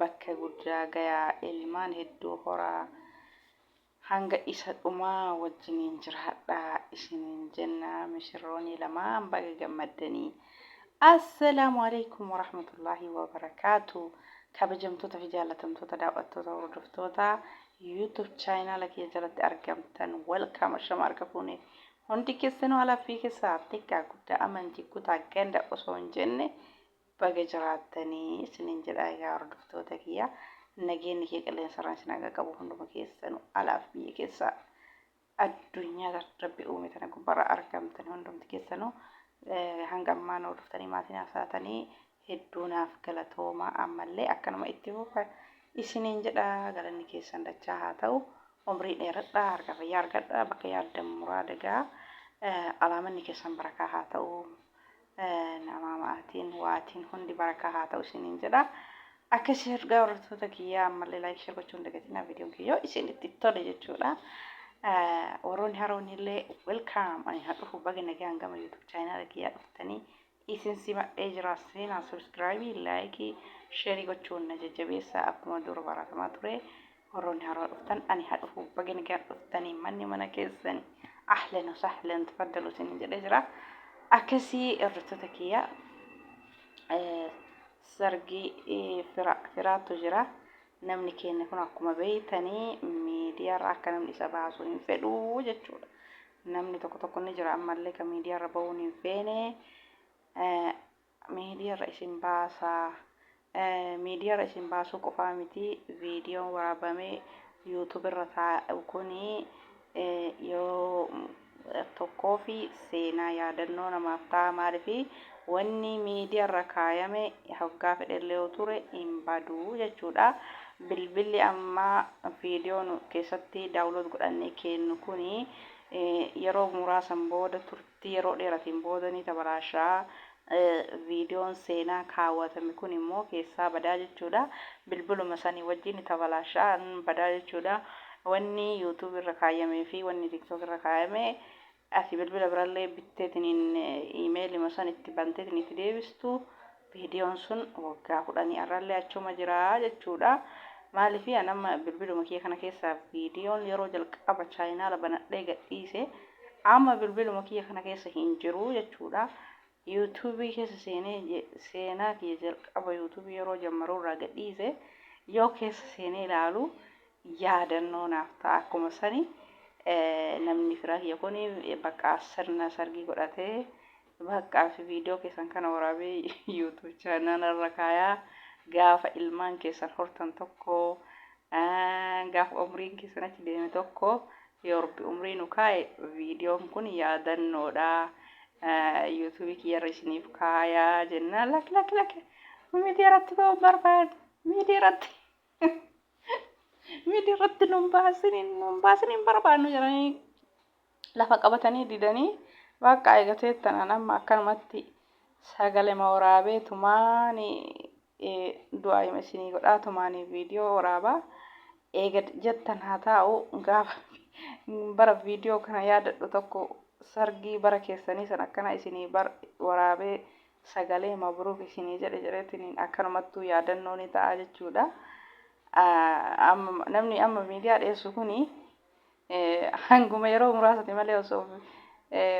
bakka guddaa gayaa, ilmaan hedduu horaa, hanga isa dhumaa wajjiniin jiraadhaa isiniin jenna mishirroonii lamaan baga gammaddanii. Assalaamu Aleykum Warahmatullaahi Wabarakaatu Kabajamtoota fi jaallatamtoota daaw'attoota hordoftoota YouTube chaayinaala kiyya jalatti argamtan welcome ashama arga fuune hundi keessanuu alaffii keessaa xiqqaa guddaa amantii kutaa ganda osoo hin jenne Baga jiraattani isiniin jedha egaa hordoftoota kiyya nageenni kee qilleensarraan isin haa qaqqabu hunduma keessanu alaaf biyya keessa addunyaa rabbi uume tana gubbarra argamtan hundumti keessanu hanga ammaa nu hordoftanii maatii naaf taatanii hedduu naaf galatooma ammallee akkanuma itti fufa isiniin jedha galanni keessan dachaa haa ta'u umrii dheeradha harka fayyaa argadha bakka yaaddan muraada gaa alaamanni keessan barakaa haa ta'u Namaa maatiin waatiin hundi barakaa haa ta'u isiniin jedha. Akka sheer daawwattoota kiyyaa ammallee laayik sheer gochuun dagatinaa viidiyoon kiyyoo isinitti tole jechuudha. Warroonni haroonni illee welkaam ani haa dhufu baga nagaan gama yuutuub chaayinaala kiyyaa dhuftanii isin simadhee jira seenaa sabiskiraayibii laayikii sheerii gochuun na jajjabeessa akkuma dura baratamaa ture. Warroonni haaraa dhuftan ani haa dhufu baga nagaan dhuftanii manni mana keessani ahlan wa sahlan tafaddalu isiniin jedhee jira. Akkasii hordoftoota kiyya eh, sargi eh, fira, firaatu jira. Namni keenya kun akkuma beeytanii miidiyaarra akka namni isa baasu hin fedhu jechuudha. Namni tokko tokko ni jira ammallee kan miidiyaarra ba'uun hin feene. Eh, miidiyaarra isin baasa. Miidiyaarra isin baasuu qofaa miti, viidiyoon waraabamee YouTube irra taa'u kun yeroo tokkoof seenaa yaadannoo namaaf ta'a. Maaliif wanni miidiyaarra kaayame hoggaa fedhellee yoo ture hin badu jechuudha. Bilbilli amma viidiyoo keessatti download godhannee keennu kun yeroo muraasan booda tti yeroo dheeratiin booda ni tabaraasha. Viidiyoon seenaa kaawwatame kun immoo keessaa badaa jechuudha. Bilbiluma sanii wajjin ni tabalaasha, ni badaa jechuudha. Wanni YouTube irra kaayyamee fi wanni TikTok irra kaayame ati bilbila birallee bitteetiniin emailima san itti banteetiin itti deebistu Viidiyoon sun waggaa kudhanii arrallee achuma jira jechuudha. Maaliif an amma bilbiluma kiyya kana keessaa viidiyoon yeroo jalqaba chaayinaala banadhee gadhiise amma bilbiluma kiyya kana keessa hin jiru jechuudha. Yuutuubii keessa seenee je- seenaa kiyya jalqaba yuutuubii yeroo jammaruu irraa gadhiise yoo keessa seenee ilaalu yaadannoo naaf ta'a akkuma sani eh, namni firaa kiyya kun bakka sirna sargii godhatee Baqqaa fi video keessan kana waraabee youtube channel irra kaayaa gaafa ilmaan keessan hortan tokko gaafa umriin keessan achi deeme tokko yoo rabbi umrii nu kaa'e viidiyoon kun yaadannoodha youtube kiyyarra isiniif kaayaa jennaan lak lak lak miidiyaa irratti ba'uu hin barbaadu miidiyaa irratti miidiyaa irratti nun baasiniin nun baasiniin barbaannu jedhanii lafa qabatanii didanii waaqqaa eegatee tanaan amma akkanumatti sagalema waraabee tumaani du'aayima isinii godhaa tumaanii viidiyoo waraabaa eega jettan haa taa'u gaafa bara viidiyoo kana yaadadhu tokko sargii bara keessanii san akkana isinii bar waraabee sagalee mabruuk isinii jedhe jedheetiin akkanumattuu yaadannoo ni ta'a jechuudha. Amma namni amma miidiyaa dhiyeessu kuni Hanguma yeroo muraasati malee osoo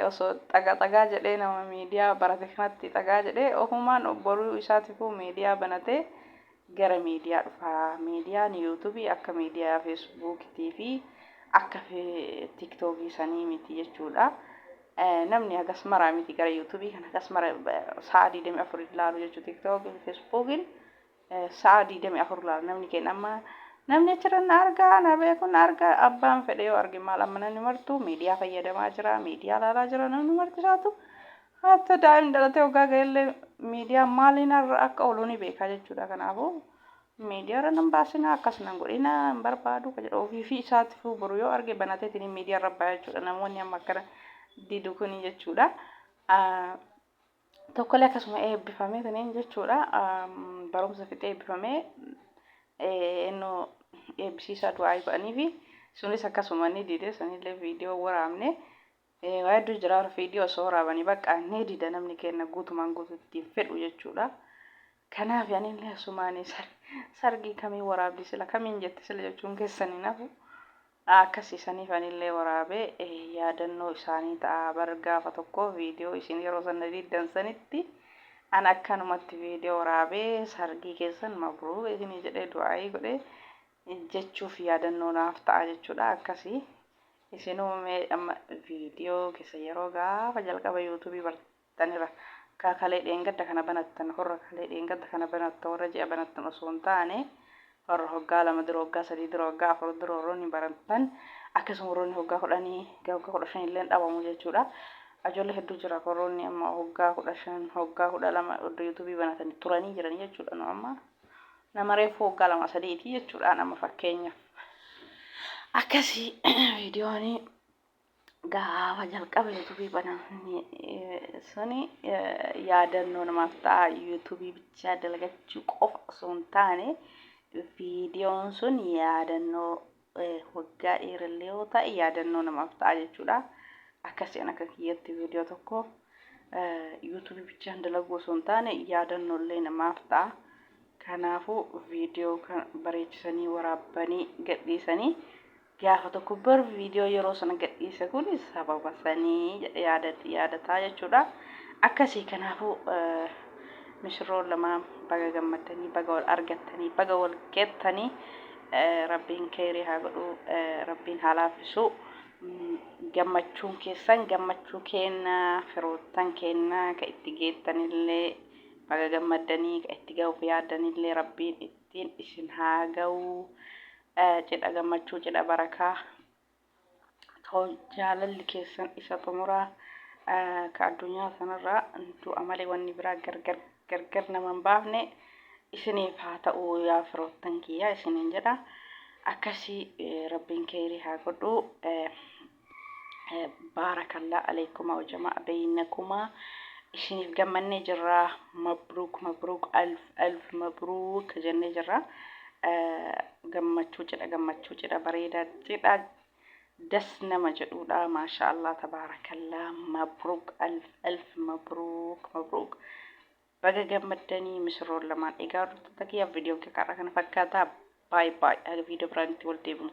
osoo xaga xagaa jedhee nama miidiyaa barate kanatti xagaa jedhee ofumaan obboruu isaatifuu miidiyaa banatee gara miidiyaa dhufaa. Miidiyaan yuutubii akka miidiyaa feesbuukitii fi akka tiktookii sanii miti jechuudha. Namni hagas maraa miti gara yuutubii kan hagas mara sa'a 24 ilaalu jechuu tiktookii fi feesbuukiin Sa'aa 24 laala namni keenya amma namni achirra na argaa na beeku na argaa abbaan fedhe yoo arge maal amma namni martuu miidiyaa fayyadamaa jira miidiyaa laalaa jira namni marti isaatu hatta daa'imni dhalatee hoggaa ga'ellee miidiyaa maaliin irra akka oolu ni beekaa jechuudha kanaafuu miidiyaa irra nan baasinaa akkas nan godhina hin barbaadu ka jedhu ofii fi isaatiifuu boru yoo arge banateetiin miidiyaa irra baa jechuudha namoonni amma akkana didu kuni jechuudha. Tokkole akkasuma eebbifamee tuniin jechuudha barumsa fixee eebbifamee ennu eebbisiisaa du'aa'ii godhaniifi sunis akkasuma ni dide sanillee viidiyoo waraabne waa hedduu jira viidiyoo osoo waraabanii bakka ni dida namni kenna guutumaan guututti hin fedhu jechuudha. Kanaaf anillee asumaan sargii kamii waraabdi sila kamiin jette sila jechuun keessan hin hafu. na akkasiisaniif anillee waraabee yaadannoo isaanii ta'a bar gaafa tokko video isin yeroo san na diiddan sanitti an akkanumatti video waraabee sargii keessan mabruuk isinii jedhee du'aa'ii godhe jechuuf yaadannoo naaf ta'a jechuudha akkasi isinuu mee amma video keessan yeroo gaafa jalqaba youtube bartan banattaniira. Ka kalee dheengadda kana banattan horra kalee dheengadda kana banatta warra ji'a banattan osoo hin taane warra hoggaa lama dura hoggaa sadii dura hoggaa afur dura warroonni banattan akkasuma warroonni hoggaa kudhanii ga hoggaa kudha shan illee dhabamu jechuudha. Ajoollee hedduu jira ka warroonni amma hoggaa kudha shan hoggaa kudha lama oddo yuutuubii banatanii turanii jiran jechuudha nu amma nama reefuu hoggaa lama sadiiti jechuudha nama fakkeenyaaf. Akkasii viidiyoonii gaafa jalqaba yuutuubii banamne suni yaadannoo namaaf ta'a yuutuubii bichaa dalagachuu qofa osoo hin taane viidiyoon sun yaadannoo waggaa dheerallee yoo ta'e yaadannoo namaaf ta'a jechuudha. Akkasiin akka kiyyatti viidiyoo tokko yuutuubii bichaan dalaguu osoo hin taane yaadannollee namaaf ta'a. Kanaafuu viidiyoo kan bareechisanii waraabbanii gadhiisanii Gaafa tokko bar viidiyoo yeroo sana gadhiise kun sababa sanii jedhe yaadatti yaadataa jechuudha. Akkasii kanaafuu misirroon lamaan baga gammaddanii baga wal argattanii baga wal gettanii rabbiin keeyrii haa godhuu rabbiin haa laafisuu. Gammachuun keessan gammachuu keenna firoottan keenna ka itti geettanillee baga gammaddanii ka itti gahuuf yaaddanillee rabbiin ittiin isin haa gahuu. Cidha gammachuu cidha barakaa too jaalalli keessan isa xumuraa ka addunyaa sanarraa du'a malee wanni biraa gargar gargar nama hin baafne isiniif haa ta'u yaa firoottan kiyyaa isiniin jedha akkasii rabbiin keeyrii haa godhu Baarakallaa aleykuma wajamaa beynakumaa isiniif gammannee jirra mabruuk mabruuk alf alf mabruuk jennee jirra gammachuu cidha gammachuu cidha bareeda cidha das nama jedhuudha maashaa allah tabaarakallaa mabruuk alf alf mabruuk mabruuk baga gammaddanii misirroon lamaan egaa hordoftoota kiyyaaf viidiyoon kiyya kana fakkaata baay baay haga viidiyoo biraanitti wal deebinu